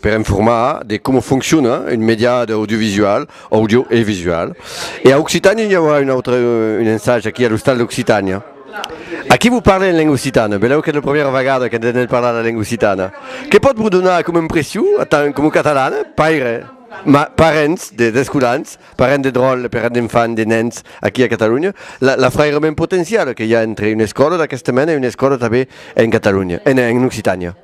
per informar de coma fonciona un mèdia audiovisual, audio e visual. E a Occitània i aurà un autre un ensag aquí a l'Ostal d'Occitània. Aquí vos parle en lenga occitana, belèu qu'es la primièra vegada que n'entenèt parlar la lenga occitana. Que pòt vos donar coma impression, atant coma catalana, paire, ma, parents d'escolans, parents de dròlle, parents d'enfants, de nens aquí a Catalonha, la, l'afrairament potencial que i a entre una escòla d'aquesta mena e una escòla tanben en Catalonha, en, en Occitània?